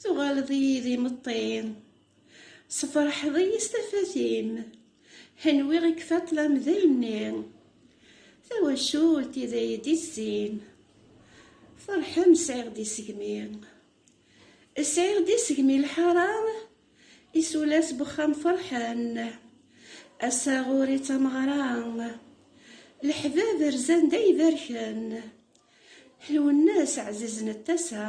Tuɣaleḍ-iyi d imeṭṭi Sefreḥeḍ-iyi s tafat-im Henwiɣ i kfaṭlam d ayenni Tawacult i d ay d-izzin Ferḥem sɛiɣ-d isegmi Sɛiɣ-d isegmi lḥara Isulas n wexxam ferḥen. Asaɣur i tameɣra. Leḥbab rzan d ay berken. Ḥelwen-as ɛzizen n tasa.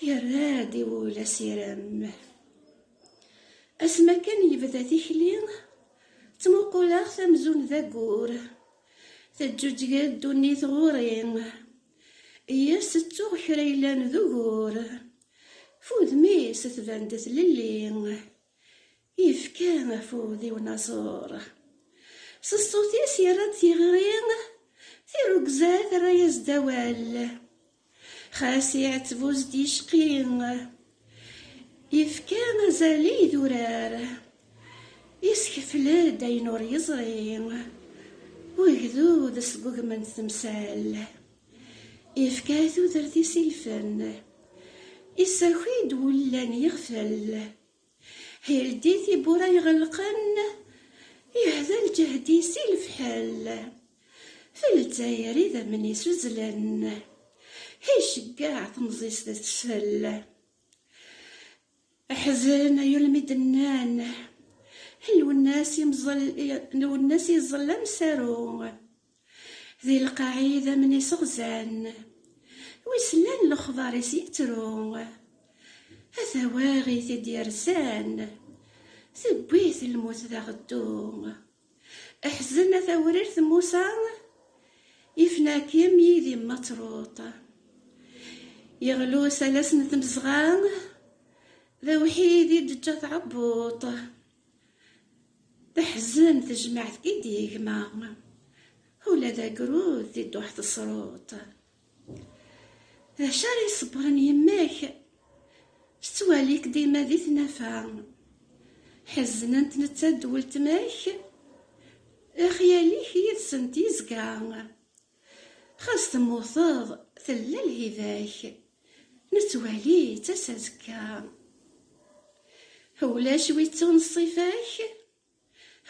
Yerra-d i wul asirem. Asmi akken yebda tikli. Ttmuquleɣ-t amzun d agur. Teǧǧuǧǧeg-d ddunit ɣur-i. Yes-s ttuɣ kra yellan d ugur. F udem-is tban-d tlelli. Yefka afud i unaẓur. S ṣṣut-is yerra-d tiɣri. Tirugza terra-yas-d awal. Xas iɛetteb ur s-d-yecqi. Yefka azal i idurar. Yeskefl-d ayen ur yeẓri. Wegdud sgugmen-t temsal. Ifka tudert-is i lfen. Isaki-d wullan yiɣfel. Hildi tibbura iɣelqen. Ihda lǧehd-is i lefḥel. F Lezzayer idammen-is uzzlen. Iceggeɛ temẓi-s d tesfel. Aḥzen ay ulmi d-nnan. Lwennas imẓel, lwennas iẓel amsaru. Di lqaɛ idammen iseɣzan. Wis llan lexbar-is yettru. A tawaɣit i d-yerzan. Tewwi-t lmut d aɣeddu. Ḥzen a tawrirt Musa ifna-kem yid-i mattruṭ. Yeɣli usalas n tmezɣa d awḥid i d-teǧǧa tɛebbuṭ. Teḥzen tejmaɛt i d-yegma ula d agrud di dduḥ tesruṭ. D acu ara iṣebbren yemma-k? Tettwali-k dima di tnafa. Ḥeznent netta d weltma-k. Lexyal-ik yid-sent yezga. Xas temmuteḍ, tella lhiba-k. Nettwali-tt-as azekka. Ulac wi ttun ṣṣifa-k.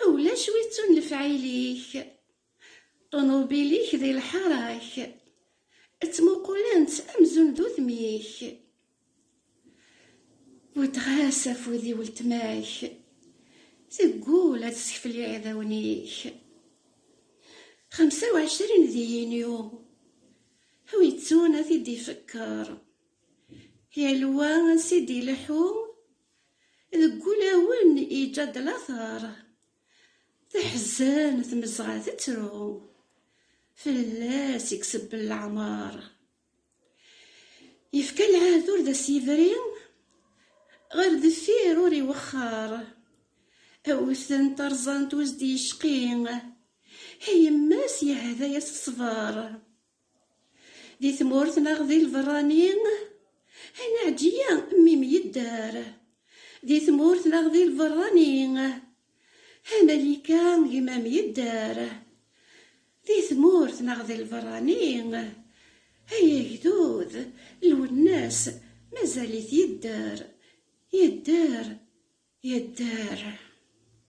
Ulac wi ttun lefɛil-ik. Ṭunubil-ik di lḥarak. Ttmuqulent amzun d udem-ik. Buddeɣ-as afud i weltma-k. Teggul ad teskfel iɛdawen-ik. Xemsa u ɛecrin di yinyu. Wi yettun ad t-id-ifekker. Yal wa ansi d-ileḥḥu. Deg ulawen yeǧǧa-d lateṛ. Teḥzen tmezɣa tettru fell-as i isebbel leɛmer. Yefka lɛehd ur d as-yebri ɣer deffir ur iwexxer. Awten tarzant ur as-d-yecqi i yemma-s yehda-as ṣṣber. Di tmurt neɣ di lberrani, ay neɛǧiya mmi myedder. Di tmurt neɣ di lberrani, ay malika gma myedder. Di tmurt neɣ di lberrani, ay agdud lwennas mazal-it yedder, yedder, yedder.